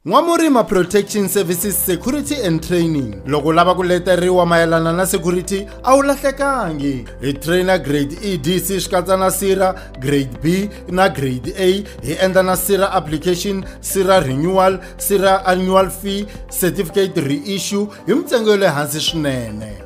N'wamurima Protection Services Security and Training loko u lava ku leteriwa mayelana na security a wu lahlekangi hi trainer grade EDC swi katsa na sira grade B na grade A hi endla na sira application sira renewal sira annual fee certificate reissue hi mintsengo ya le hansi swinene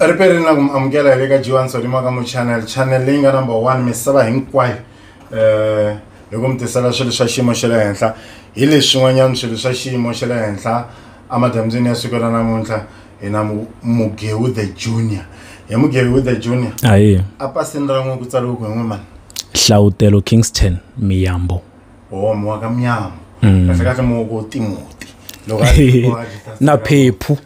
ri perini na ku mi amukela hi le ka jiwa ntsonima ka mu channel channel leyi nga number one misava hinkwayo um hi ku mi tisela swilo swa xiyimo xa le henhla hi leswin'wanyana swilo swa xiyimo xa le henhla emadyambyini ya siku ra namuntlha hi na mugewu the junior hi mugewu the junior ayi a pasini ra n'wi ku tsariwe ku hi n'wi mani hlawutelo kingston miyambo o mi wa ka miyambo kahle kahle mi wa ku timoti loko na phephu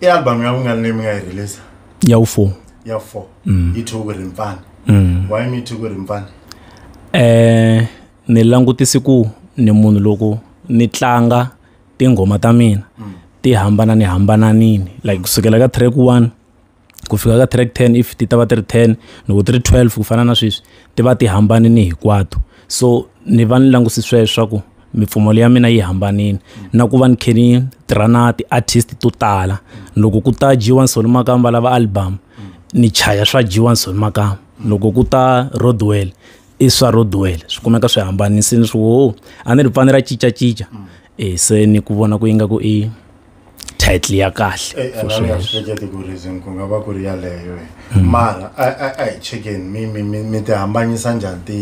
i album ya vungani leyi mi nga yi release ya wu four ya four mm. yi thyiwe ku ri mpfana mm. why mi thyiwe ku ri mpfana eh ni langutisi ku ni munhu loko ni tlanga tinghoma ta mina mm. ti hambana ni hambananini like kusukela ka track one ku fika ka track ten if ti ta va ti ri ten loko ti ri twelve ku fana na sweswi ti va ti hambanile hinkwato so ni va ni languse sweswo swa ku mipfumolo ya mina yi hambanile na ku va ni khe ni tirha na ti-artist to tala loko ku ta dyiwa nsoli makamba lava album ni chaya swa dyiwa nsoli makamba loko ku ta rodwell i swa rodwell swi kumeka swi hambanisile swi wo a ni ri pfani ra cincacinca e se ni ku vona ku ingaku i title ya kahle eh, for sure. ahleketi ku reason ku nga va ku ri yaleyo eh. mm. mara a hi chekeni mi mi mi mi ti hambanyisa njhani ti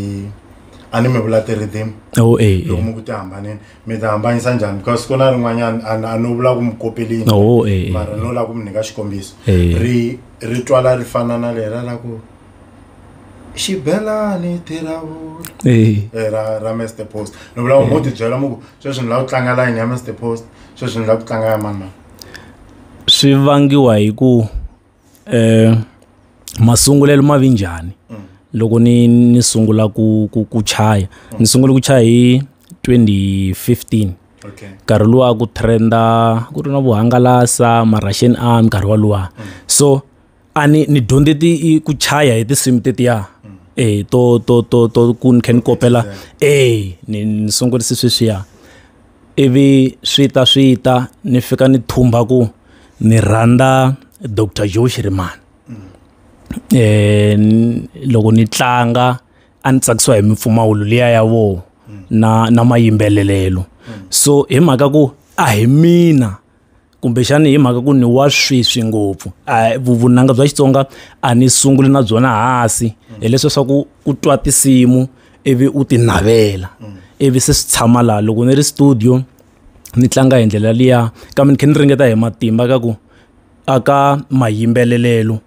a ni mi vula ti-rhythm oh, eh, loko mi ku ti hambanini mi ti hambanyisa njhani because ku na rin'wanyana a no vula ku mi kopelini oh, mara no lava ku mi nyika xikombiso ri ri twala ri fana na lera la ku xibelani thiravula Eyi. Eh, ra ra mr post ni vula ku mo tibyela mu ku sweswi ni lava ku tlanga layini ya mr post sweswi ni lava ku tlanga ya mani mani swi vangiwa hi ku eh masungulelo ma vi njhani loko ni ni sungula ku ku ku chaya ni sungule ku chaya hi 2015 okay nkarhi luwa ku trenda ku ri na vuhangalasa ma-russian army nkarhi walowa so a ni ni dyondze ti ku chaya hi tinsimu tetiya eh to to to to ku ni kha ni kopela eh ni ni sungurise sweswiya ivi swi ta swi ta ni fika ni thumba ku ni rhandza dr joe shirimani eh loko ni tlanga a ni tsakisiwa hi mimpfumawulo liya ya vo na na mayimbelelelo so hi mhaka ku a hi mina kumbexani hi mhaka ku ni wa sweswi ngopfu vunanga bya xitsonga a ni sunguli na byona hasi hileswi leswaku u twa tinsimu ivi u ti navela ivi se swi tshama laha loko ni ri studio ni tlanga hi ndlela liya kambe ni kha ni ringeta hi matimba ka ku a ka mayimbelelelo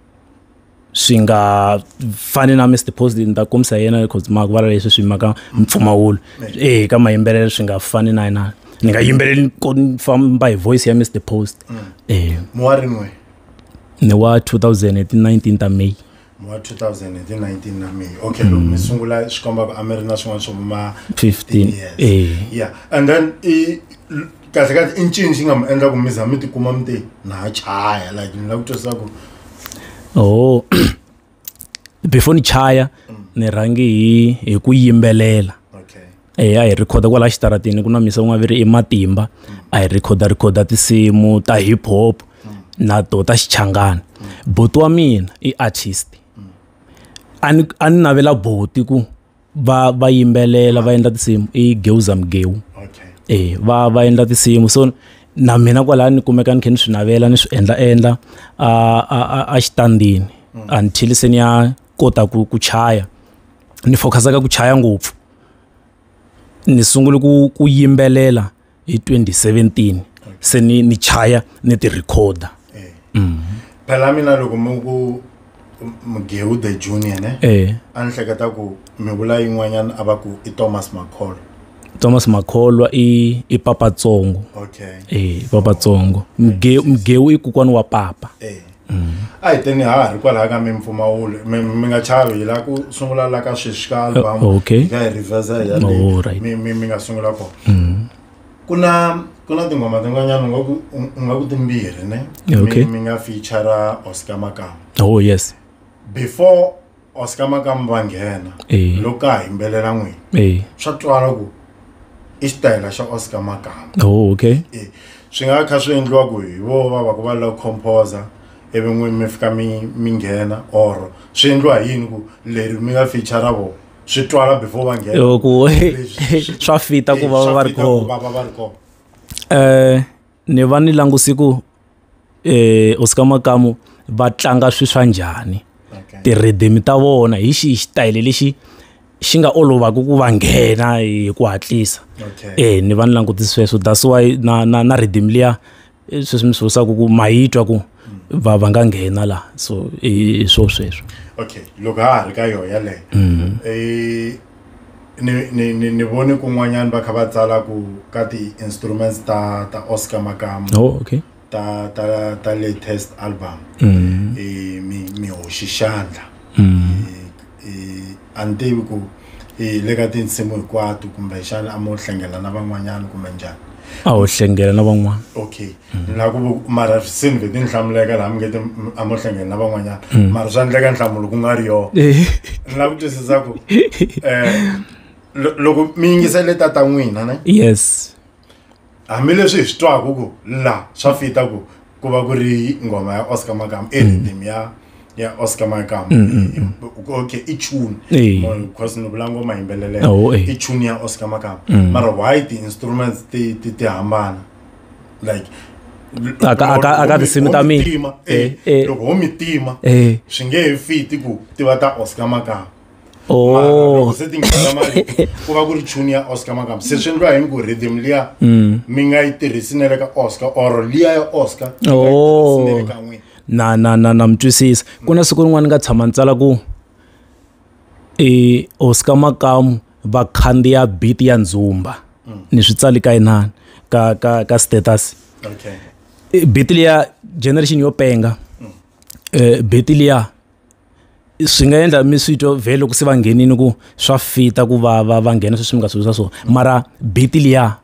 swi nga fani na Mr Positive ni ta kombisa yena because ma ku vala leswi swi maka mpfumawulo eh ka mayimbelelo swi nga fani na yena ni nga yimbeleli ko famba hi voice ya Mr Post mm. eh mo wa rin'we ni wa 2019 ta May wa 2019 na me okay mm. mi sungula swi komba ku a mi ri na swin'wana swo ma 15 years eh. yeah and then i kahle kahle i ncini xi nga mi endla ku mi za mi tikuma mi te na ha chaya like ni lava ku twisisa ku oh before ni chaya ni rhangi hi hi ku yimbelela okay eya hi rhikhoda kwala xitaratini ku na misa ku nga vi ri i matimba a hi rhikhoda rhikhoda tinsimu ta hip hop na to ta xichangani boti wa mina i artist a ni a ni navela boti ku va va yimbelela va endla tinsimu i geuza mgeu okay. e va va endla tinsimu so na mina kwalaha ni kumeka ni khe ni swi navela ni swi endla endla a xitandini mm. until se ni ya kota ku ku chaya ni focusaka ku chaya ngopfu ni sungule ku ku yimbelela hi 2017 se ni ni chaya ni ti recorder eh. mm. phela mina loko mi ku mgewu the junior ne eh. a ni hleketa ku mi vula yin'wanyana a va ku i thomas makholwa thomas makholwa i i papatsongo okay. e papatsongo mgewu i kokwani wa papa e. a hi teni ha ha ri kwalaha ka mimpfumawulo mi mi nga chavi hi laha ku sungula la ka sweswi ka album Uh, okay. hi nga hi reversa hi ya le Oh, right. mi mi mi nga sungula kona Mm. ku na ku na tinghoma tin'wanyana u nga ku u- u nga ku timbirhi ne Yeah, okay. mi, mi nga featura oscar makama oh yes before oscar makamu va nghena Eh. loko ka ha yimbelela n'wini Eh. swa twala ku i xitayela xa oscar makamu Oh, okay. Eh, swi nga kha swi endliwa ku hi vo va va ku va la ku composer ivi n'wini mi fika mi mi nghena or swi endliwa hi yini ku leri mi nga feature vo swi twala before va nghena Yo, ku Leswi- swi- swa fita ku Eh, va swa va ri fita ku kona va va va ri kona eh ni va ni languse ku eh, hosi ka makamu va tlanga swi swa njhani ti-rhythm ta vona hi xihi xitayele lexi xi nga olovaka ku va nghena hi ku hatlisa e ni va ni langutisi sweswo that's why na na na rhythm liya eh, sweswi mi swi vusaka ku ma yi twa ku va va nga nghena laha so hi swo sweswo okay loko ha ha ri ka yona yaleyo mhm. eh, ni ni ni ni vone kun'wanyana va kha va tsala ku ka ti-instruments ta ta oscar makamu oh, okay. ta ta ta latest album mm. e, mi mi hoxi xandla mm. e, e, a ni tivi ku e, le ka tinsimu hinkwato kumbexana a mo hlengela na van'wanyana kumbe njhani a ho hlengela na van'wana okay Mm-hmm. na ku mara se ni ve ti ni hlamuleka laha mi nge ti a mo hlengeni na van'wanyana mm. mara swa endleka nhlamulo ku nga ri yona eh. ni lava ku twisisa ku um loko mi yingisele tata n'wina ne yes hambileswi hi swi twaka ku la swa fita ku ku va ku ri nghoma ya oscar makama e rhythm ya ya oscar makama okay i tune because ni vula ngoma yimbeleleka oh, i tune ya oscar makama mm. mara why ti-instruments ti ti ti hambana like A ka- a ka- a ka tinsimu ta mina. mina Eh, eh. loko ho mi tima Eh. swi nge he fiti ku tiva ta oscar makamba Mara oh loko se ti nghena mali ku va ku ri tune ya oscar makamba se swi endliwa yini ku rhythm liya Mm. mi nga yi tirhisi na le ka oscar or liya ya oscar mi nga yi Oh. tirhisi na le ka n'wina. na na na na mi twisisa ku na siku rin'wana ni nga tshama ni tsala ku e hosi ka makamu va khandziya biti ya ndzumba mm. ni swi tsali ka inani ka ka ka status okay. E, biti liya generation yo penga mm. e, biti liya swi nga endla mi swi twa vhe loko se va nghenini ku swa fita ku va va va nghena sweswi mi nga swi visa swona mm. mara biti liya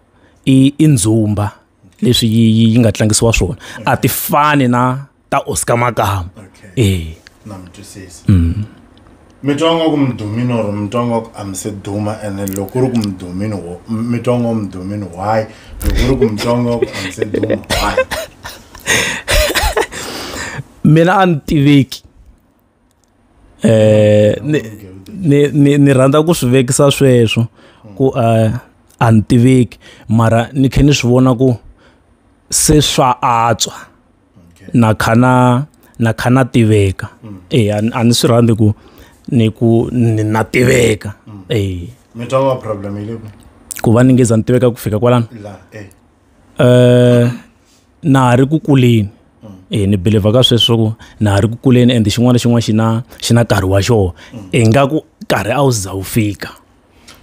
i i ndzumba leswi yi yi nga tlangisiwa swona a ti fani na ta oscar makama e mm. mi twa nga ku mudumini or mi twa nga ku a mi se duma ene loko ku ri ku mudumini wo mi twa nga mudumini why loko ku ri ku mi twa nga ku a mi se duma why mina a ni tiveki um ni rhandza ku swi vekisa sweswo ku um a ni tiveki mara ni khe ni swi vona ku se swa antswa na kha na na kha na tiveka mm. eh a ni swi rhandzi ku ni ku na tiveka mm. eh mi twa wa problem ile ku ku va ni nge za ni tiveka ku fika kwalano la eh eh na ha ri ku kuleni mm. eh ni believe ka sweswo ku na ha ri ku kuleni and xin'wana na xin'wana xi na xi na nkarhi wa xona ingaku nkarhi a wu za wu fika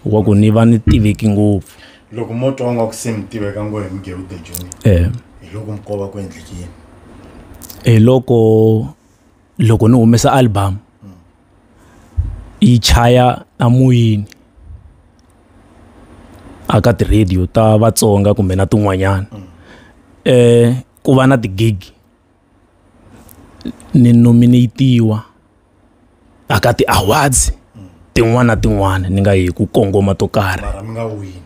wa ku ni va ni tiveki ngopfu loko mo twa nga ku se mi tiveka ngo hi mugewude joni eh hi loko mi kova ku endleke yini hi loko loko ni humesa album yi chaya a moyeni a ka ti-radio ta vatsonga kumbe na tin'wanyana um ku va na ti-gig ni nominate-iwa a ka ti-awards tin'wana na tin'wana ni nga yi ku kongoma to karhi mara mi nga wini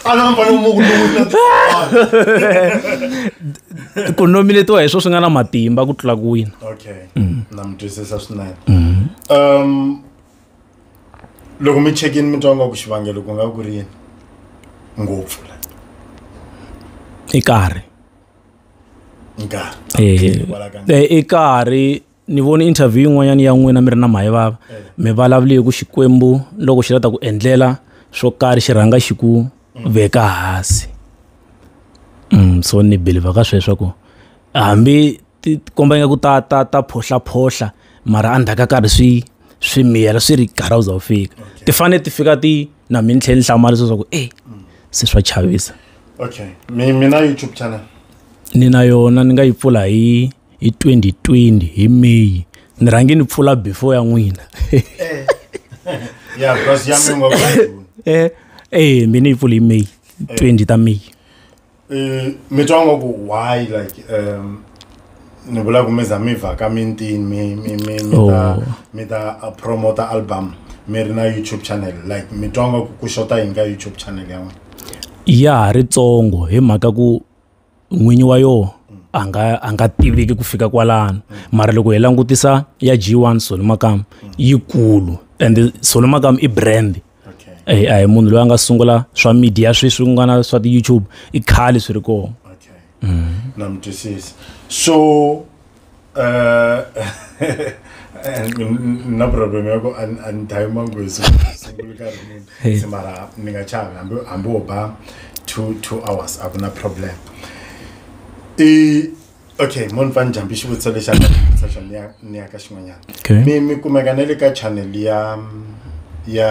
a na mpfana mu ku wina ku nominate-iwa hi swo swi nga na matimba ku tlula ku wina okay na mi twisisa swinene um loko mi chekini mi twa nga ku xivangelo ku nga ku ri yini ngopfu la i karhi nkarhi i karhi ni vone interview yin'wanyana ya n'wina mi ri na mahe vava eh. mi vulavule ku xikwembu loko xi lata ku endlela swo karhi xi rhanga xi ku mm. veka hansi mm, so ni believer ka sweswo ku hambi ti komba ingaku ta ta ta phohlaphohla mara endzhaku ka karhi swi swi miyela swi ri karhi u za wu fika ti fanele ti fika ti na mi ni tlhela ni hlamala swa ku e se swa chavisa okay mi mi na youtube channel ni na yona ni nga yi pfula hi hi 2020 hi may ni rhange ni pfula before ya n'wina eh. ya because ya mi ngo eh eh mi ni yi pfula hi may 20 eh. ta may Eh, mi twa nga ku why like um ni vula ku mi za mi vhaka mintini mi mi mi mi ta Oh. mi ta uh, promota album mi ri na youtube channel like mi twa nga ku ku xota yini ka youtube channel ya n'wina ya ha ri tsongo hi mhaka ku n'winyi wa yoho a nga a nga tiviki ku fika kwalano mara loko hi langutisa ya g1 solo makam yikulu and solo makam i brand okay. a eh, hi munhu loyi a nga sungula swa media sweswi ku nga na swa ti-youtube i khale swi ri kona okay. mm. na mi twisisi so uh, na problem ya ku a ni dhayi mangwezi sungula nkarhi muni se mara ni nga chavi hambi hambi wo ba two two hours a ku na problem i okay mo ni fane jambi xivutiso lexi a nga xivutiso xona ni ya- ni ya ka xin'wanyana Okay. mi mi kumeka na le ka channel ya ya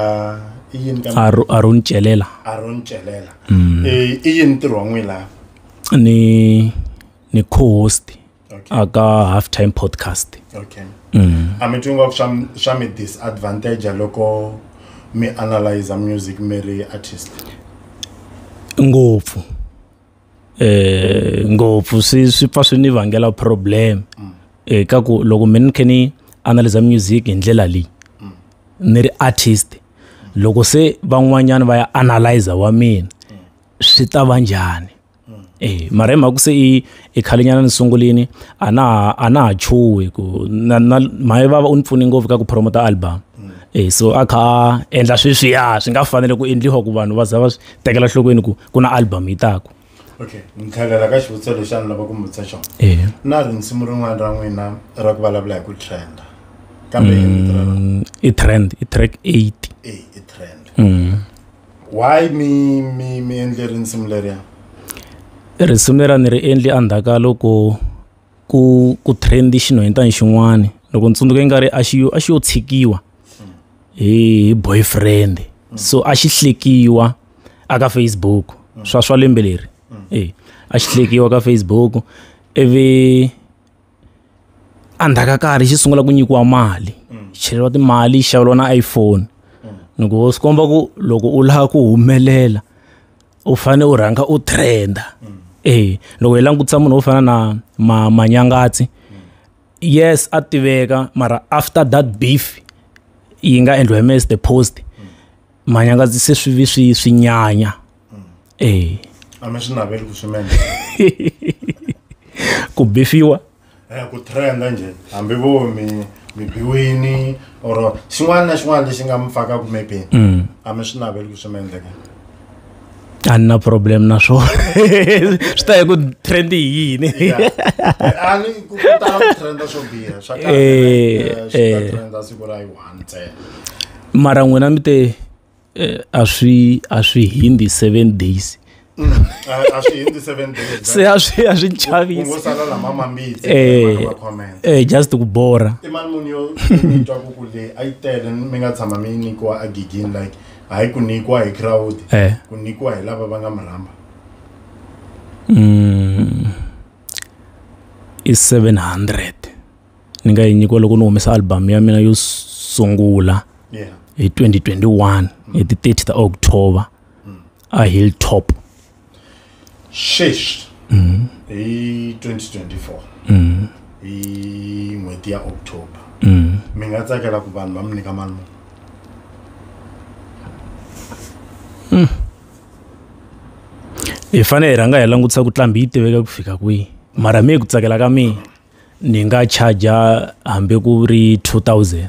i yini ka Aro- aron celela aron celela Mm. Eh, i yini ntirho wa n'wina laha ni ni co-host Okay. aka half time podcast okay mm. a mi twi ngopfu swa mi- swa mi disadvantage loko mi analyza music mi ri artist ngopfu eh ngopfu swi swi pfa swi ni vangela problem mm. eh ka ku loko mina ni khe ni analyze music hi ndlela leyi mm. ni ri artist loko se van'wanyana va ya analyze wa mina mm. swi ta va njhani eh mara hi mhaka se i i khalenyana ni sungulini a na a na ha chuhi ku na na maye vava u ni pfune ngopfu ka ku promota album eh so a kha endla sweswiya swi nga fanele ku endliwa ku vanhu va za va tekela nhlokweni ku ku na album yi taku okay ni tlhelela ka xivutiso lexi a ni lava ku mi vutisa xona eya na ri nsimu rin'wana ra n'wina ra ku vulavula hi ku trenda kambe hi vito ra rona. Mm, i trend i track 8 Eh, i trend mm. why mi mi mi endle rinsimu leriya risimu lera ni ri endli endzhaku ka loko ku ku trend xinhwanyetana xin'wana loko ni tsundzuka nga ri a xi yo a xi yo tshikiwa hi boyfriend so a xi hlekiwa aka Facebook swa swa lembe leri e a xi hlekiwa ka Facebook ivi endzhaku ka karhi xi sungula ku nyikiwa mali cheleriwa timali xaveriwa na iPhone ni ku swi komba ku loko u lava ku humelela u fanele u rhanga u trenda e loko hi langutisa munhu wo fana na ma manyangatsi yes a tiveka mara after that beef yi nga endliwa hi mes the post manyangatsi se swi vi swi swi nyanya e a mi swi naveli ku swi ku bifiwa Eh, ku trenda njhe hambi vo mi mi biwini or xin'wana na xin'wana lexi nga mi faka kumepeni mm. a mi swi naveli ku swi mi endleka a ni na problem na swona swi ta hi ku trend hi yini eh, eh. mara n'wina mi te eh, a swi a swi hindi seven days mm, a swi hindi seven days se a swi a swi chavisi sala lama mambitsi eh, eh just ku bora i mali muni yo twa ku ku le a yi tele mi nga tshama mi nyikiwa a gigini like hayi ku nyikiwa hi crowd eh. ku nyikiwa hi lava va nga mi rhamba mm, i 700 ni nga yi nyikiwa loko ni humesa album ya mina yo sungula yeah. hi 2021 mm. hi ti 30 ta october mm. a hilltop shesh mm. hi 2024 mm. hi n'hweti ya october mm. mi nga tsakela ku vanhu va mi nyika mali muni mm. hi fanele hi rhanga hi langutisa ku tlambi yi tiveka ku fika kwihi mara mi hi ku tsakela ka mina ni nga charger hambi ku ri 2000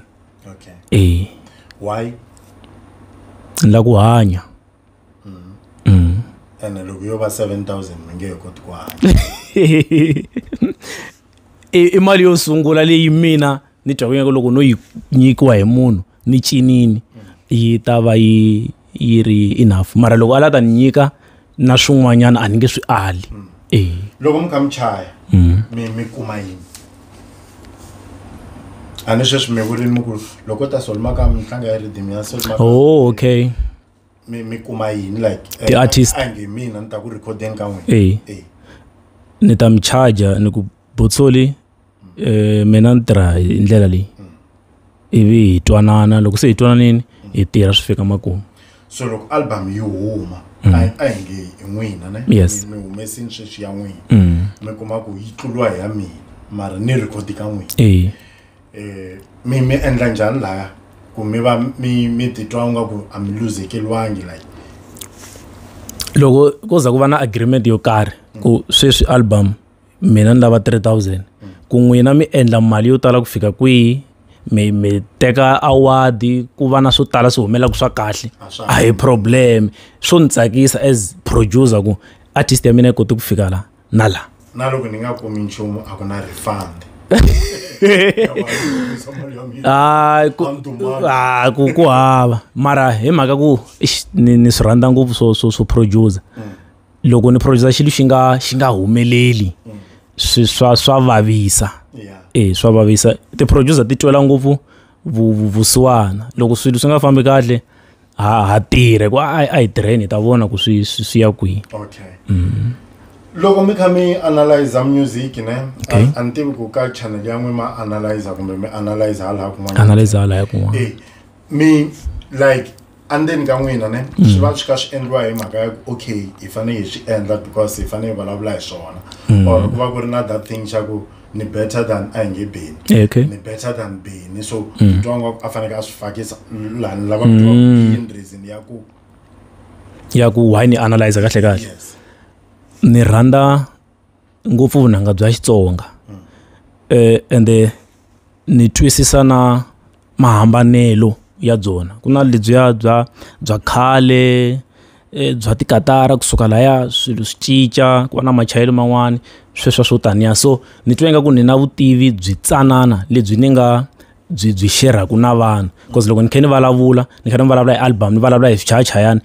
okay eh why la ku hanya mm. Mm. ene loko yo va 7000 mi nge he koti ku hanya i mali yo sungula leyi mina ni twa kunyaku loko no yi nyikiwa hi munhu ni cinini yi ta va yi yi ri enough mara loko a la ta ni nyika na swin'wanyana a ni nge swi ali e loko mi kha mi chaya mm. mi mi kuma yini a ni sweswi mi vurini mi ku loko ta solima ka mitlanga ya ridimi ya solima oh okay mi mi kuma yini like the eh, artist a nge mina ni ta ku recordeni ka n'wina e ni ta mi charger ni ku botsoli eh, mina ni tirha hi ndlela leyi ivi hi twanana loko se hi twananini hi tirha swi fika makumu so loko album yi huma mm. a hi nge hi n'wina ne yes mi humesini sweswi ya n'wina mm. mi kuma ku yi tluriwa hi ya mina mara ni rekhodi ka n'wina eh. eh mi mi endla njhani laya ku mi va mi mi titwa nga ku a mi luzekeliwangi like loko ko za ku va na agreement yo karhi ku sweswi album mina ni lava 3000 ku n'wina mi endla mali yo tala ku fika kwihi mi mi teka award ku va na swo tala swi humelaka swa kahle a hi problem swo ni tsakisa as producer ku artist ya mina yi kote ku fika la na la na loko ni nga kumi nchumu a ku na refund Ah, ku ah, ku ku hava mara hi mhaka ku ni ni swi rhandza ngopfu swo swo swo producer mm. loko ni producer xilo xi nga xi nga humeleli swi swa swa vavisa e swa vavisa ti-producer ti twela ngopfu vusiwana loko swilo swi nga fambi kahle ha ha tirhe ku a hi tirheni hi ta vona ku swi swi ya kwihi okay mm. loko mi kha mi analyze music ne okay. a ni tivi ku ka channel ya n'wi ma analyze kumbe mi analyze hala kun'wana analyze hala kun'wana eh, mi like andzeni ka n'wina ne mm. swi va swi kha swi endliwa hi mhaka ya ku okay hi fanele hi swi endla because hi fanele hi vulavula hi swona mm. or ku va ku ri na that thing xa ku ni better than a hi nge beni eh, okay. ni better than beni so mm. twa nga a faneke a swi fakisa lani lava kutiwa mm. reason ya ku ya ku why ni analyze kahle kahle yes. ni rhandza ngopfu vunanga bya xitsonga um ende ni twisisa na mahambanelo ya byona ku na lebyiya bya bya khale um bya tikatara kusuka laya swilo swi cinca ku va na machayelo man'wani sweswo swo taniya so ni twa ingaku ni na vutivi byi tsanana lebyi ni nga byi byi xerhaku na vanhu cause loko ni kha ni vulavula ni kha ni vulavula hi album ni vulavula hi swichayachayani.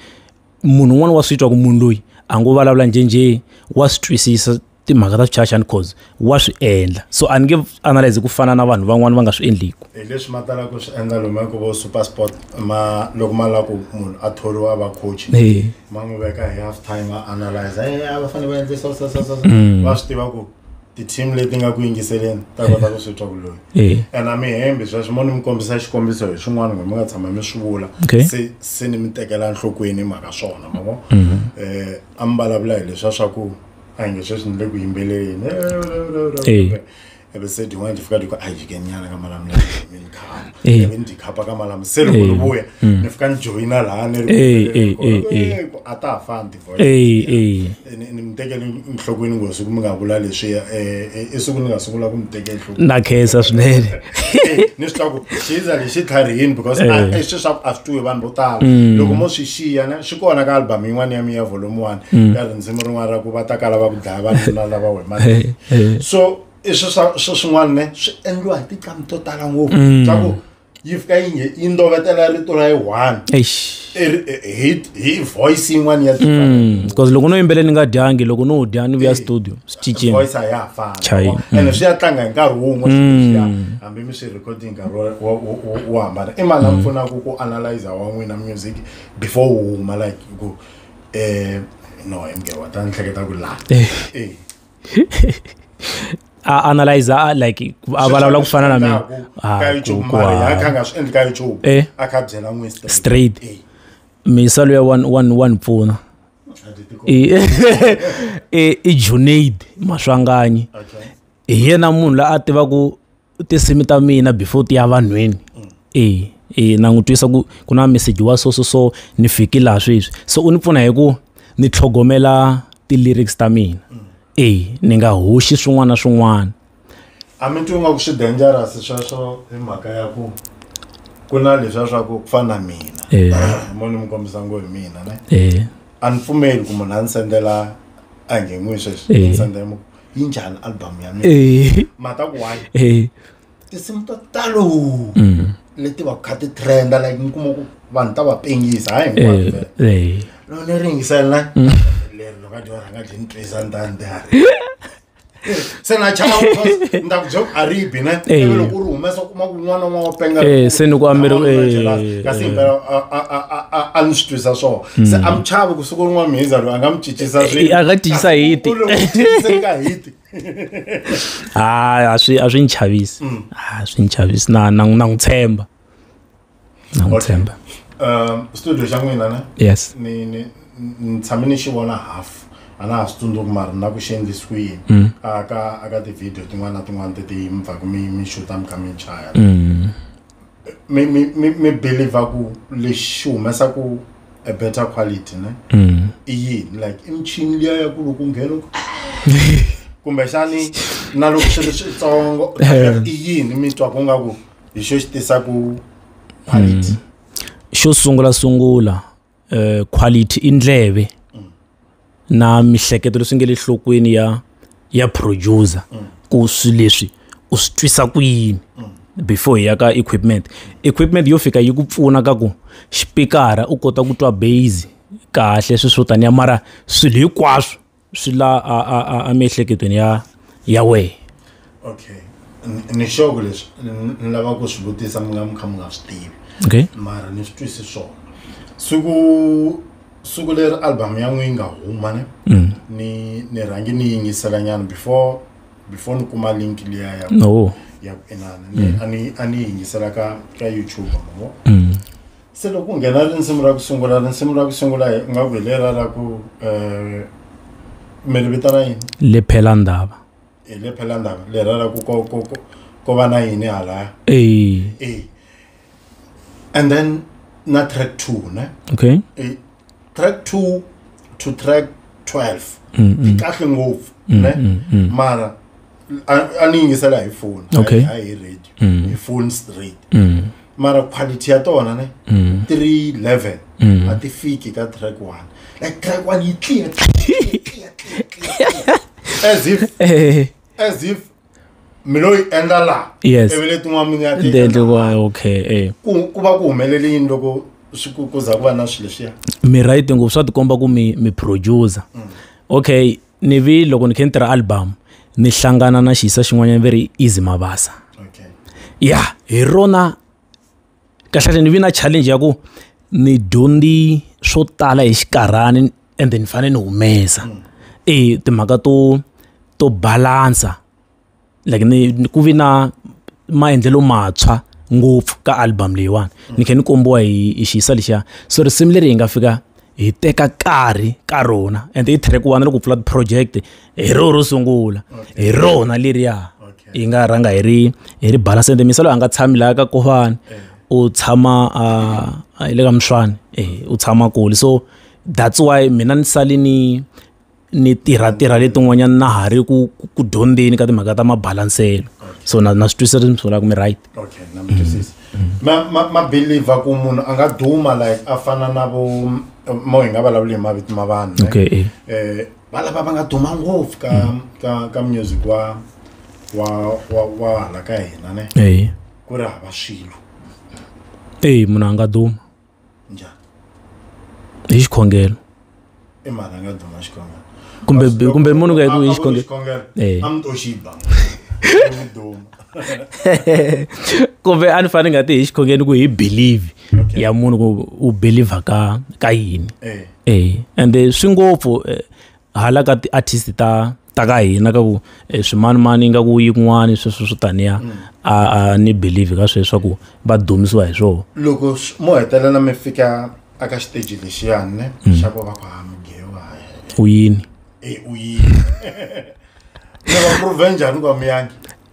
munhu un'wana wa swi twa ku munhu loyi a ngo vulavula njhenjhe wa swi twisisa timhaka ta swichachani cause wa swi endla so a ni nge analyze ku fana na vanhu van'wana va nga swi endliku hi leswi ma talaka ku swi endla lomu ku vo super sport ma loko ma lava ku munhu a thoriwa a va coach ma n'wi veka hi half time a analyze va fanele va endlisa mm. va swi tiva ku ti-team leti nga ku yingiseleni ta kota ku swi twa vuloyi eh. and a mi hembi sweswo mo ni mi kombisa xikombiso hi swin'wana kumbe mi nga tshama mi swi vula se se ni mi tekela nhlokweni mhaka swona ma vo um mhm. eh, a mi vulavula hi leswa swa ku a hi nge sweswi ni le ku yimbeleleni eh, ebe se din'wana ti fika ti ku a jike nyana ka malamu lemi ni khana ebe ni dikhapa ka malamu se loko ni vuya mm. ni fika ni joyina laha ni ri a ta ha fani eyi eyi ni mi tekele nhlokweni nghozi ku mi nga vula leswiya um i siku ni nga sungula ku mi teke nhlokweni na khensa swinene ni swi hlaku xi za lexi tlharihini because a- i swi swa ku a swi tiwi vanhu vo tala loko mo swi xiya na swi kona ka album yin'wana ya mi ya volume one ka rindzimi rin'wana ra ku va ta kala va ku dlaya vanuna lava wemanini so i swi swa swi swin'wana ne swi endliwa hi tinqamu to tala ngopfu swa ku yi fika yi nge- yi ndovetela rito ra yi one eish i ri- i- hi hi voice yin'wani ya different. because loko no yimbelela ni nga dyangi loko no dya ni vuya studio swi cincile voice a ya ha fani Chayi. wa- ene swi ya tlanga hi nkarhi wun'we swilo leswiya, hambi mi swi recording nkarhi wo- wo- wo- wo- wo hambana i mani a mi pfunaka ku analyzer wa n'wina music before wu huma like ku um no hi mge wa ta ni hleketa ku laha Eh. Eh. a analyze a like a vulavula ku fana na mina ah, eh? straight misalo ya wa ni pfuna i junaid maswanganyi hi yena munhu la a tivaku tinsimu ta mina before ti ya vanhwini e e na n'wi twisa ku ku na meseji wa so so so ni fiki laha sweswi so u ni pfuna hi ku ni tlhogomela ti-lyrics ta mina e ni nga hoxi swin'wana na swin'wana a mi twi ingaku swi dangerous sweswo hi mhaka ya ku ku na leswiya swa ku ku fana na mina Eh. mo ni mi kombisa ngo hi mina ne e a ni pfumeli ku munhu a ni sendela a nge n'wi sweswi Eh. ni sendela mu- yi njhani album ya mina eh mhaka ku why eh tinsimu to talo mm leti va ku kha ti trenda like ni kuma ku vanhu ta va pengisa hayi hinkwato eh vele. eh loko ni ri yingisela na leri loko a dyo rhanga byi ni twisa ni ta ni ta ri se na chava because ni ta ku byo a ri bi ne Eh. ivi loko u ri humesa u kuma ku n'wana wa penga Eh, se ni ku ameri- eh, kasi eh. himpela a- a- a- a- a- a ni swi twisa swona se a mi chavi ku siku rin'wana mhiza loyi a nga mi cincisa Eh, eh, a nga cincisa hiti. ka hiti hayi a swi a swi ni chavisi Mm. a swi ni chavisi na na na n'wi tshemba na n'wi Okay. tshemba um studio xa n'wina ne yes ni ni ni tshame ni xi vona half a na ha swi tsundzuki mara na ku xi endlisi ku yini Mm. a ka a ka ti-video tin'wana na tin'wana teti mi pfaku mi mi xuta mi kha mi chaya Mm. mi mi mi mi believer ku lexi xi humesaku a better quality ne mm. i yini like i michini liya ya ku loko nghena ku kumbexani na loko swi ri switsongo i yini mi twa ku nga ku hi xo xi tisaku quality mm. xo sungula sungula uh, quality i ndleve na mihleketo leswi nge le nhlokweni ya ya producer ku swi leswi u swi twisa ku yini before hi ya ka equipment equipment yo fika yi ku pfuna ka ku xipikara u kota ku twa base kahle swi swo taniya mara swilo hinkwaswo swi la emiehleketweni ya ya wehe okay ni xoko leswi ni lava ku swi vutisa mi nga mi kha mi nga swi tivi okay mara ni swi twisi swona siku siku leri album ya n'wi yi nga huma ne mm. ni ni rhangi ni yingisela nyana before before ni kuma link liya ya no ya ku inana mm. a ni a ni yingisela ka ka youtube mo mm. se loko ku nghena rinsimu ra ku sungula rinsimu ra ku sungula hi nga ku hi lela ra ku um eh, mi ri vitana yini lephela ndhava hi lephela ndhava lera ra ku ko ko ko ko va na yini halaya e and then na track two ne okay e, track two to track twelve yi kahle ngopfu ne mara a- a ni yingisela hi phone Okay. hayi hi radio hi phone straight mara quality ya tona ne three level a ti fiki ka track one like track one yi clear clear, clear, clear, clear, clear. as if Eh, as if mi lo yi endla laha Yes. ivi letin'wana mi nga ti Ndzi endle endla laha. wa- okay eh. ku ku va ku humelele yini loko swi ku ku za ku va na swilo leswiya mi right ngopfu swa tikomba ku mi mi producer okay ni vi loko ni khe ni tirha album ni hlangana na xiyisa xin'wanyana ve ri easy mabasa okay ya hi rona kahlekahle ni vi na challenge ya ku ni dyondzi swo tala hi xikarhani ende ni fanele ni humesa mm. e timhaka to to balansa like ni ku vi na maendlelo matshwa ngopfu ka album leyiwani mm. ni khe ni kombiwa hi hi xiyisa lexiya so risimu leri hi nga fika hi teka karhi ka rona and i track one loko pfula ti-project hi ro ro sungula hi rona leriya hi nga rhanga hi ri hi ri bala sente misalo a nga tshami laha ka kofani eh. u tshama hi le ka muswani eh, u tshama kule so that's why mina ni sale ni ni tirha tirha letin'wanyana na ha ri ku ku dyondzeni ka timhaka ta mabalanselo so na na swi twisisa leswi mi swi vulaka mi right okay na mi twisisa ma ma ma believer ku munhu a nga duma like a fana na vo mo hi nga vulavuli hi mavito ma vanhu ne? okay eh. eh va lava va nga duma ngopfu ka ka ka music wa wa wa wa hala ka hina ne eh ku ri hava swilo eh munhu a nga duma njhani hi xikhongelo i mhaka nga duma xikhongelo kumbe kumbe munhu ka hi xikhongelo eh. a mi to xi ba kumbe a ni fane nga ti hi xikhongeni ku hi believe ya munhu ku u believer ka ka yini eh. eh and swi ngopfu eh, hala ka ti-artist ta ta ka hina ka ku eh, swimanimani ingaku yin'wani sweswo swo taniya mm. a ni believe ka sweswo swa ku va dumisiwa hi swona loko mo hetelela mi fika aka xiteji lexiyani ne mm. xa ku va ku ha mi gewa u yini e u yini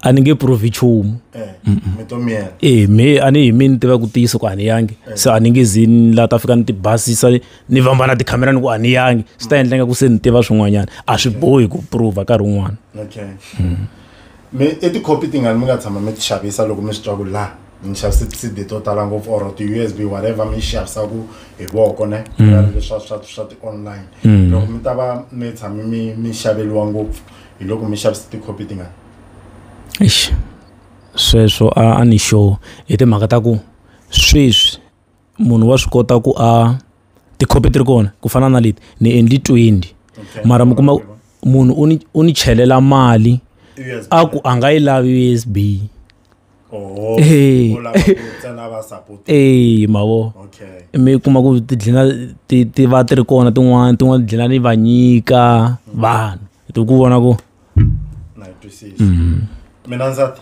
a ni nge provi nchumu eh, eh, me a ni hi mi ni tiva ku tiyisa ku a ni yangi eh. se a ni nge zi ni laha ta fika ni ti basisa ni vamba na tikhamera ni ku a ni yangi swi ta endla nga ku se ni tiva swin'wanyana a swi bohi ku prova nkarhi wun'wana hmm. me i tikhopi tingani mi nga tshama mi ti xavisa loko mi swi twa ku laha mi xava ti-cd to tala ngopfu or ti-usb whatever mi yi xavisaku hi voko ne mm. leswa swa swa ti-online mm. loko mi ta va mi tshame mi mi xaveliwa ngopfu hi loko mi xavisa tikhopi tingani sweswo a ni sure hi timhaka ta ku sweswi munhu wa swi kota ku a tikhopi ti ri kona ku fana na leti ni endli twenty mara mi kuma munhu u ni u ni chelela mali a ku a nga yi lavi usb oh, ee ee mavo mi kuma ku tidlina ti ti va ti ri kona tin'wana tin'wana tidlina ni va nyika mm. vanhu ti ku vona ku na yi twisisa mm. mina ndzata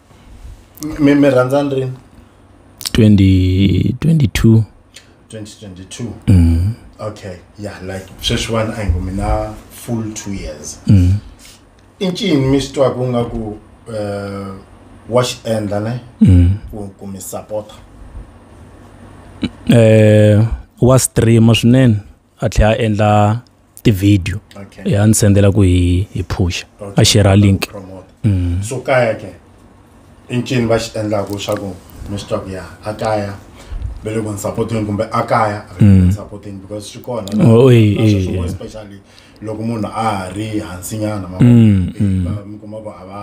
mi mi rhandzani rini 20 22 2022 mm. okay yeah like sweswiwani a hi ngo mina full two years mm. i ncini mi swi twaka u nga ku um wa xi endla ne mm. ku ku mi sapota um eh, wa streama swinene a tlhela a endla tivhidiyo okay. ya ni sendela ku hi hi phusha okay. a shera link mm. so kaya ke i ncini va xi endlaka leswaku mi swi twa ku ya a kaya ve le ku ni sapoteni kumbe a kaya a ni mm. sapoteni because swi kona oh, eh, eh, eh. especially loko munhu a ha ri hansinyana ma mm, mm. mi kuma ku a va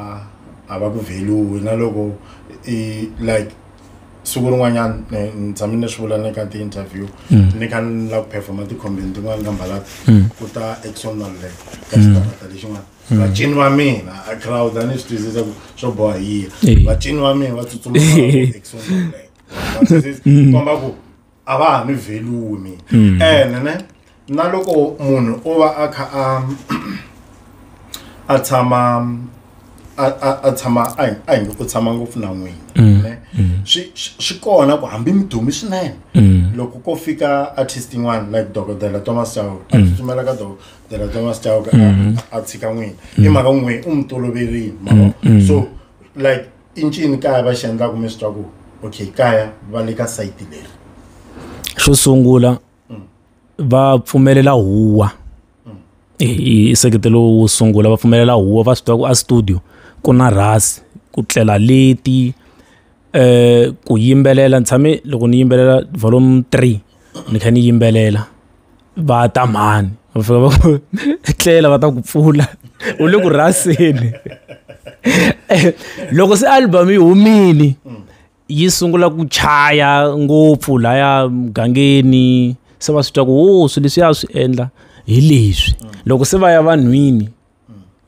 a va ku value na loko i like siku rin'wanyana eh, ni tshame ni swi vula ni ka ti-interview mm. ni kha ni lava ku performa tikhombeni tin'wana ka mbalata mm. ku ta exon maluleka ka mm. xitarata lexin'wana vacini va mina a crowd a ni swi twisisa ku swo boha yiya vacini va mina va tsutsuma exon maluleka komba ku a va ha mi velumi mm. ene ne na loko munhu o va a kha a a tshama a tshama a hi nge u tshama ngopfu na n'wina mm. ne mm. swi swi kona ku hambi mi dumi swinene loko ko fika artist yin'wana like dokodela thomas chauke a tsutsumela ka dokodela thomas chauke a tshika n'wina i mhaka n'wina u mi toloverile so like i ncini kaya va xi endlaku mi swi twa ku okay kaya va le ka sayiti leri xo sungula mm. va pfumelela huwa mm. i nseketelo wo sungula va pfumelela huwa va swi twa ku a studio ku na rhasi ku tlela leti eh ku yimbelela ni tshame loko ni yimbelela volume three ni kha ni yimbelela va ta mhani va fika va ku etlela va ta ku pfula u le ku rhaseni loko se album yi humile yi sungula ku chaya ngopfu laya mugangeni se va swi twa ku wo swi leswi ya swi endla hi leswi loko se va ya vanhwini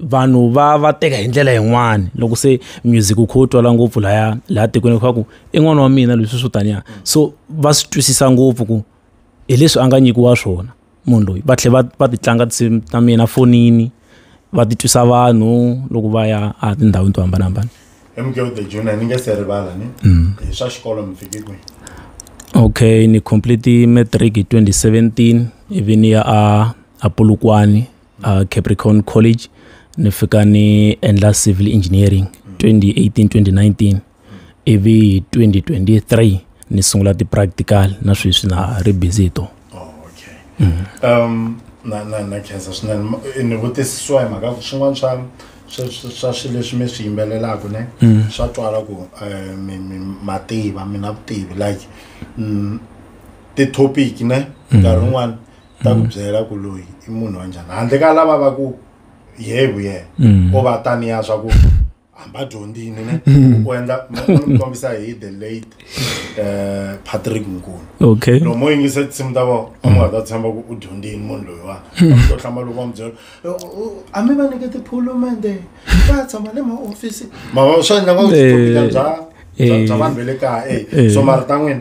vanhu va va teka hi ndlela yin'wani loko se music u kho u twala ngopfu laya laha tikweni kha ku i n'wana wa mina leswi swo taniya so va swi twisisa ngopfu ku hi leswi a nga nyikiwa swona munhu loyi va tlhela va va ti tlanga tinsimu ta mina fonini va ti twisa vanhu loko va ya a tindhawini to hambanahambana hi mugeo the junior ni nge se rivala ni mm. hi swa xikolo mi fike kwihi okay ni complete matric hi 2017 ivi ni ya a a polokwane uh, capricorn college ni fika ni endla civil engineering 2018 2019 ivi 2023 ni sungula ti-practical na sweswi na ri busy hi tona oh, okay. mm -hmm. um, na na na khensa swinene ni vutisisiwa hi mhaka ku swin'wana swa swa swilo leswi mi swi yimbelelaka ne mm. swa twala ku eh, mativa mina vutivi like mm, ti-topic ne mm. nkarhi wun'wana ta ku byela ku loyi i munhu wa njhani handle ka lava va ku ye vu yena Mm. o va taniya swa ku hamba dyondzini ne u endla mi kombisa hi the late eh, patrick nkulu okay loko mo yingisa tinsimu ta vona a mi nga ta tshemba ku u dyondzini munhu loyiwani to hlamba loko va mi byela "U- u- a mi va nyike tiphulumende va tshama le mahofisi mava swi endla nga ku Eh, switokile bya bya- eh. bya vanhu ve le kaya eh. e so mara ta n'wina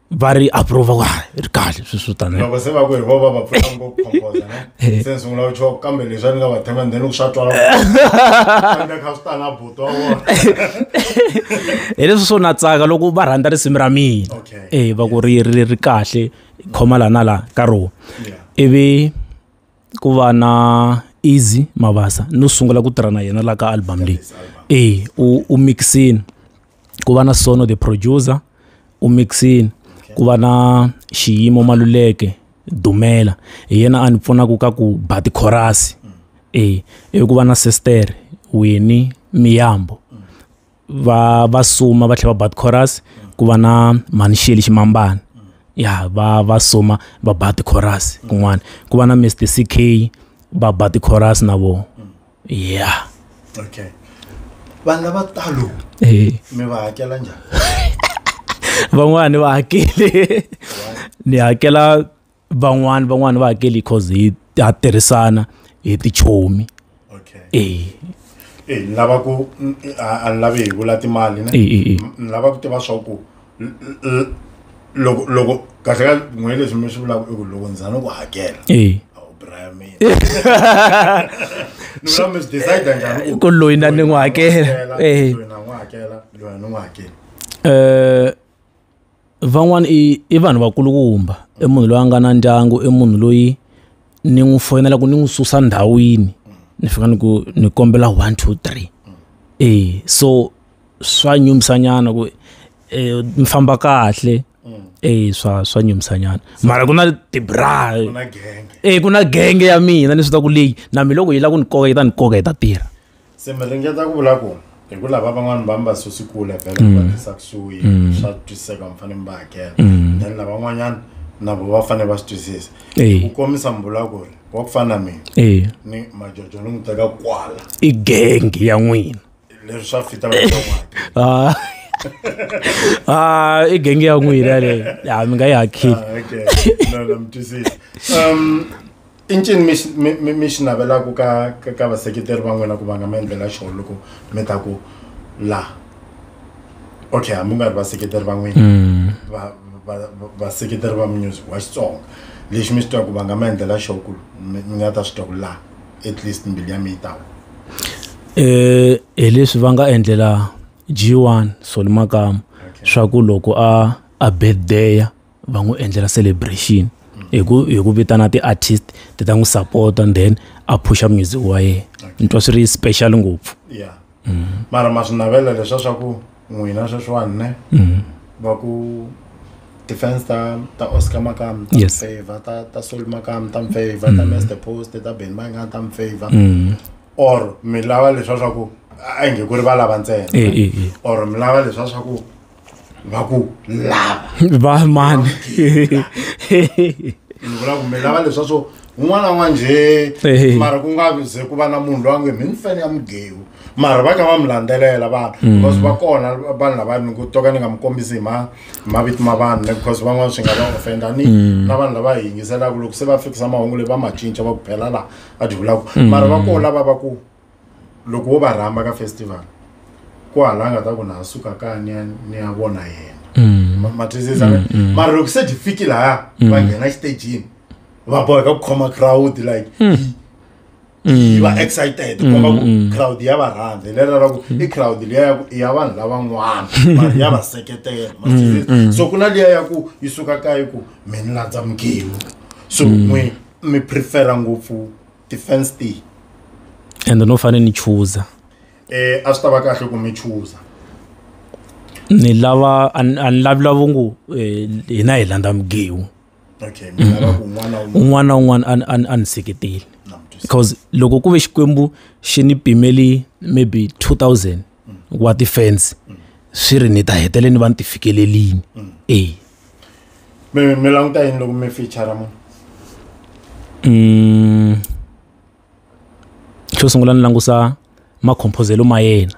va ri approva ku ri kahle swi swi taniloko se va ku hi vo va va pfuna ngopfu composa ne eh. se ni sungula ku choko kambe leswi a ni nga va thema ndeni ku swa twala kambe kha swi tala buto wa vona hi leswi swo na tsaka loko va rhandza risimu ra mina e va ku ri ri ri kahle khoma laha na laha ka rona ivi ku va na Easy Mabasa no sungula ku tirha na yena la ka album leyi e u u mix-ini ku va na Sono the producer u mix-ini ku va na Xiyimo Maluleke Dumela hi yena a ni pfunaka ka ku ba ti-chorus-i e ivi ku va na Sestere Winnie Miyambo. va va suma va tlhela va bat chorus ku va na mhani xeli ximambana ya va va suma va bat chorus kun'wana ku va na mr ck va bat chorus na vo ya okay vanhu lava talo eh. mi va hakela njhani van'wani va hakele ni hakela van'wani van'wani va hakeli cause hi ha tirhisana hi tichomi okay eh eh ni lava ku n- a a ni lavi hi vula timali ne Eh, eh, eh. M- ni lava ku tiva swa ku l- l- loko loko kahle ka n'we leswi mi swi vulaka i ku loko ndzi za ni ku hakela eh a wu braya mina ni vula mi swi decide njhani ku loyi na ni n'wi hakela eh loyi na n'wi hakela loyi a ni n'wi hakeli eh van'wana i i vanhu vakulukumba i munhu loyi a nga na ndyangu i munhu loyi ni n'wi foyinela ku ni n'wi susa ndhawini ni fika ni ku ni kombela one two three e so swa nyumisa nyana ku eh, mi famba kahle e swa swa nyumisa nyana mara ku na tibra e ku na genge ya mina ni swi ta ku leyi na mi loko yi lava ku ni koka yi ta ni koka yi ta tirha se mi ringeta ku vula ku hi ku lava van'wani va mi va susi kule vhele mm. va tisa kusuhi mm. swa twisiseka mi fanele mi va hakela mm. then lavan'wanyana na vo va fanele va swi twisisa ku komisa mi vula ku ri wa ku fana na mina ni majojo ni n'wi teka kwala i gengi ya n'wina leswi swa fita ah. ah i gengi ya n'wina leyi ya mi nga yi hakili ah, um i ncini mi xi- mi- mi- mi xi navelaka ka ka- ka vaseketeri va n'wina ku va nga mi endlela xona loko mi ta ku la okay hambi u nga ri vaseketeri va n'wina Mm. va- va- va- vaseketeri va music wa xitsonga lexi mi xi twa ku va nga mi endlela xona ku mi mi nga ta swi twa ku la at least mbilu ya mi yi tawa Eh, hi leswi va nga endlela g1 solimakama swa ku loko a a birthday va n'wi endlela celebration hi ku hi ku vitana ti-artist ti ta n'wi support and then a phusha music wa yena ni twa swi ri special ngopfu ya mara ma swi navela leswa swa ku n'wina sweswiwani ne mhm. va ku defense ta ta oscar makam ta yes. favor ta ta sol makam ta favor ta mhm. master post ta ben manga ta favor mhm. or mi lava leswa swa ku a nge ku ri va lava ntsena eh, eh, eh. or mi lava leswa swa ku va ku lava va mani ni vula ku mi lava leswa swo un'wana n'wa njhe Ehe. mara ku nga ze ku va na munhu loyi a nge mi ni fene ya mugewu mara va kha va mi landzelela vanhu because va kona vanhu lava ni ku to ka ni nga mi kombisi hi ma hi mavito ma vanhu ne because van'wana swi nga va ofenda ni na vanhu lava hi yingiselaka loko se va fikisa mahungu leyi va ma cinca va ku phela laha a ti vulaka mara va kona lava va ku loko wo va rhamba ka festival ku hala nga ta ku na suka ka ni ya ni ya vona yena Mm. Ma- ma twisisa Mm, mm. mara loko se byi fiki laya Mm. va nghena exitagini va boheka ku khoma crowd like yi- yi va excited Mm, komba ku mm. crowd ya va rhandza hi lela ra ku i crowd liya ya ku i ya vanhu lavan'wana mara ya va seketela ma Mm, twisisa? mm. so ku na liya ya ku yi suka ka yi ku mi ni landza mugemu so Mm. n'wi mi prefera ngopfu defense a ende no fanele ni chuza eh a swi ta va kahle ku mi chuza ni lava a ni lavi lavo ngo eh, hina hi landza migewu okay mi lava ku n'wana wun'wana un'wana na un'wana a ni- a ni- a ni seketeli na mutwisi because loko ku ve xikwembu xi ni pimeli maybe 2000 wa ti-fans swi ri ni ta hetelela ni va ni ti fikelelini e mi mi languta yini loko mi feature munhu mm. xo sungula ni langusa makhomphozelo ma yena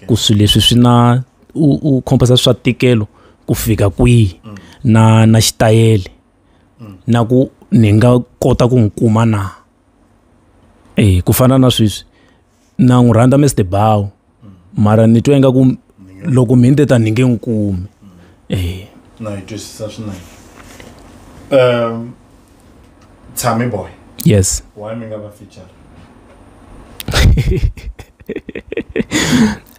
ku swilo leswi swi na u u khomposa swa tikelo ku fika kwihi mm. na na xitayele mm. na ku ni nga kota ku n'wi kuma na eh ku fana na sweswi na n'wi rhandza Mister Bao mara ni twa ingaku loko mhini te ta ni nge n'wi kumi eh na yi twisisa swinene um tshami boy yes why mi nga va feature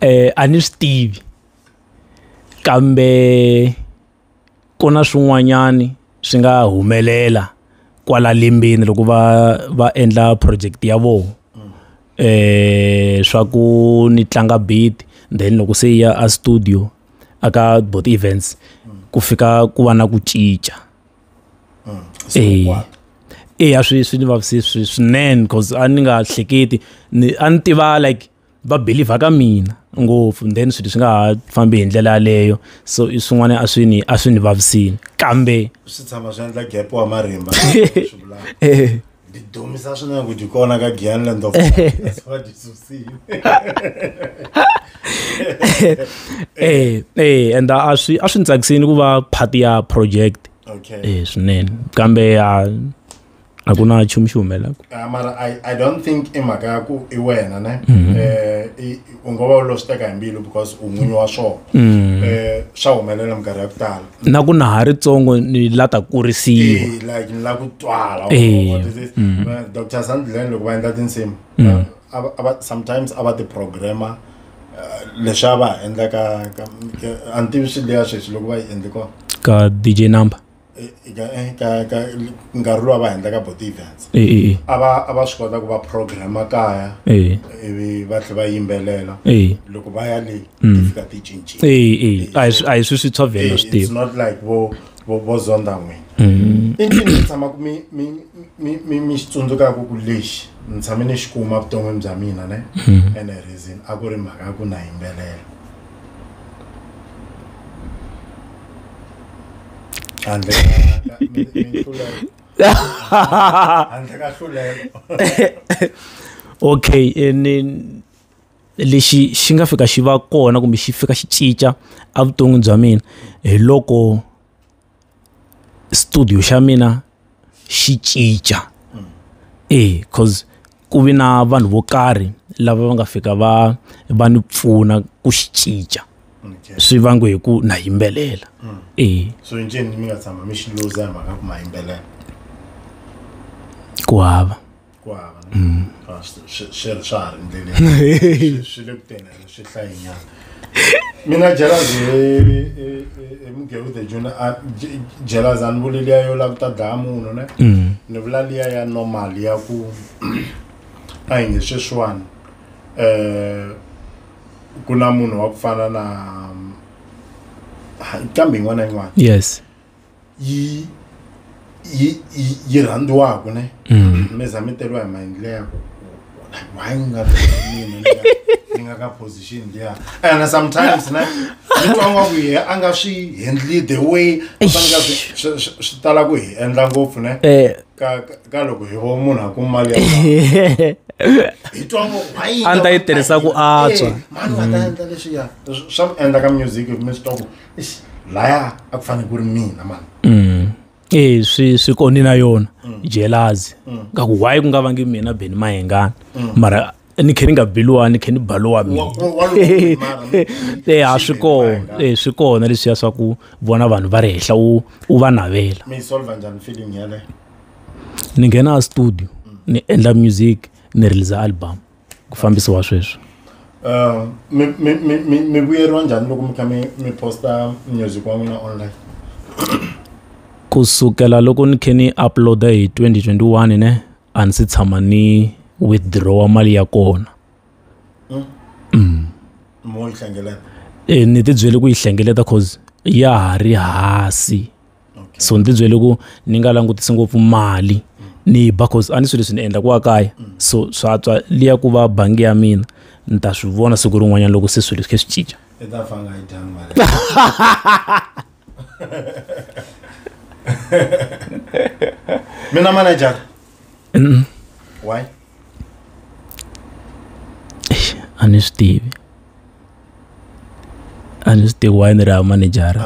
eh a ni swi tivi kambe ku na swin'wanyani swi nga humelela kwala limbeni loko va va endla project ya vona eh swa ku ni tlanga beat then loko se ya a studio aka both events ku fika ku va na ku cinca eh eya swi swi ni vavisile swinene cause a ni nga hleketi ni a ni tiva like va believer ka mina ngopfu then swilo swi nga ha fambi hi ndlela yaleyo so i swin'wana a swi ni a swi ni vavisini kambe swi tshama swi endla gap wa marimba eh. ndi dumisa swinene ku dyi kona ka gianland of va dyi susile eh eh and a swi a swi ni tsakisini ku va part ya project okay eh swinene kambe a a ku na nchumu xi humelelaka ah, mara I, i don't think i mhaka ya ku i wena ne mhm. eh, u ngo va u lo swi teka hi mbilu because u n'winyi wa swona mhm. eh, swa humelela minkarhi ya ku tala na ku na ha ri tsongo ni la ta kurisiwa like ni la ku twala mhm. eh, dr sandlen loko va endla tinsimu sometimes a va ti-programmer leswi a va ha endlaka a ni tivi swi leya sweswi loko va yi endle kona ka dj number nkarhi lowu va endlaka botievents a va a va swi kota ku va program kaya ivi va tlhe va yimbelela loko va ya le ti fika ti cincile a hi swi a hi swi swi tshovela swi tiva not like vo vo vo zonda n'wini i ncini mi tshamaku mi mi mi mi mi xi tsundzukaku ku lexi ni tshame ni xi kuma vuton'wini bya mina ne ene reason a ku ri mhaka ya ku na yimbelela handle ka- mi- mi- minhluleko. handle ka nhluleko okay eh, ni lexi xi nga fika xi va kona kumbe xi fika xi cinca evuton'wini bya mina hi loko studio xa mina xi cinca e coz ku vi na vanhu vo karhi lava va nga fika va va ni pfuna ku xi cinca swi vangiwe hi ku na yimbelela e so ncini mi nga tshama mi xi luza hi mhaka ku ma yimbelela ku hava. ku hava mm. ah, swi ri swa ha ri ndleleni swi le ku teni swi hlayinyana mina jelazi emugeu the juna jelazi a ni vuli liya yo lava ku ta dlaya munhu ne mm. ni vula liya ya normal ya ku a hi nge sweswiwani um ku na munhu wa ku fana na kambe yin'wana na yin'wana yes yi yi yi- yi rhandziwaka ne Mm. mi za mi teriwa hi maendle ya ku why ni nga mina ni nga- ni nga ka position liya and sometimes ne ni twa nga ku ye a nga swi handle the way a faneleke a swi- swi- swi- swi tala ku hi endla ngopfu ne Eh. ka ka- ka loko hi vo munhu a ku mali ya mali. hi twa ngo why yi A ni ta nga yi tirhisa ku antswa. Eh, mani wa ta endla leswiya swa mi endla ka music mi swi twa ku laya a ku fanele ku ri mina mani mm. e swi swi kondi na yona mm. jelazi mm. ka ku why ku nga vangi mina beni mahengana mm. mara ni khe ni nga biliwa ni khe ni baliwa mina e a swi kona e swi kona leswiya swa ku vona vanhu va ri henhla u u va navela ni nghena a studio ni endla music ni release album ku fambisiwa sweswi uh, mi mi mi mi vuyeriwa njhani loko mi kha mi mi posta music wa n'wina online kusukela loko ni khe ni uploada hi 2021 ne a ni si tshama ni withdrawa mali ya kona hmm? mm. mo yi hlengeleta e ni tibyele ku yi hlengeleta cause ya ha ri hasi okay. so ni ti byele ku ni nga langutisi ngopfu mali ni yi ba cause a ni swilo leswi ni endla ku wa kaya mm. so swa tswa liya ku va bangi ya mina ni ta swi vona siku rin'wanyana loko se swilo swi khe swi cinca mina manager mm. why a ni swi tivi a ni swi tivi why ni ri ha manejara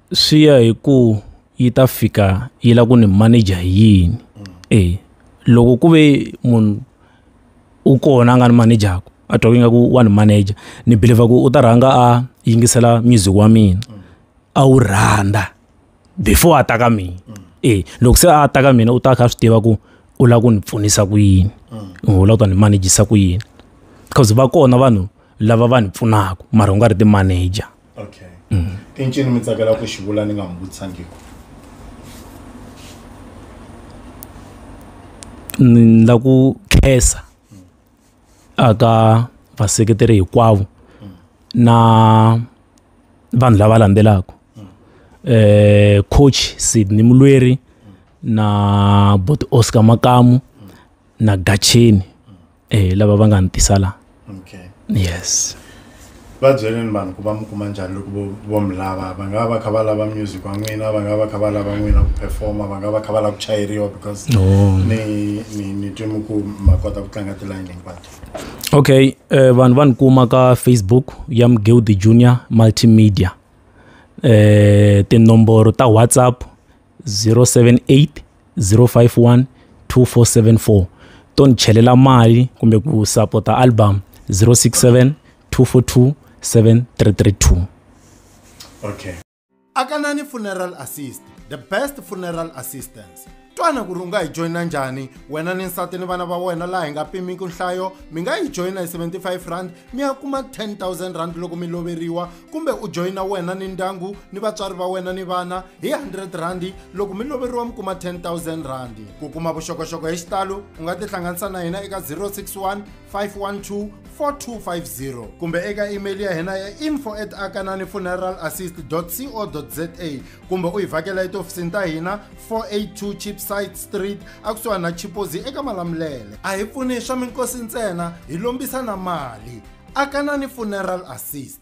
swi ya hi ku yi ta fika yi lava ku ni manager hi yini e loko ku ve munhu u kona a nga ni manager a twa ingaku wa ni manager ni believer ku u ta rhanga a yingisela music wa mina a wu rhandza before a ta ka mina e loko se a ta ka mina u ta kha a swi tiva ku u lava ku ni pfunisa ku yini u lava ku ta ni manejisa ku yini because va kona vanhu lava va ni pfunaka mara u nga ri ti-manager. okay mm. i ncini mi tsakela ku xi vula ni nga mi vutisangiko ni la ku khensa aka vaseketeri hinkwavo na vanhu lava landzelaka eh coach Sydney Mulweri na bot Oscar Makamu na gacheni eh lava va nga ni tisa la okay yes va byeleni vanhu ku va mi kuma njhani loko vo mi lava va nga va kha va lava music wa n'wina va nga va kha va lava n'wina ku performa va nga va kha va lava ku chayeriwa because ni ni ni twe mi ku ma kota ku tlanga tilayini hinkwato okay eh, vanhu va ni kuma ka facebook ya mgildi junior multimedia eh tinomboro ta whatsapp 078 051 2474 to ni chelela mali kumbe ku sapota album 067 242 7332 okay akanani funeral assist the best funeral assistance twana ku ri u nga yi joyina njhani wena ni nsati ni vana va wena laha hi nga pimiki nhlayo mi nga yi joyina hi 75 rand mi ya kuma 10000 rand loko mi loveriwa kumbe u joyina wena ni ndyangu ni vatswari va wena ni vana hi 100 rhandi loko mi loveriwa mi kuma 10000 rhandi ku kuma vuxokoxoko hi xitalo u nga tihlanganisa na hina eka 061 512 4250 kumbe eka email ya hina ya info at akanani funeral assist co za kumbe u hi vhakela etihofisini ta hina 482 chipsite street akusuhani na chipozi eka malamulele a hi pfuni swa minkosi ntsena hi lombisa na mali akanani funeral assist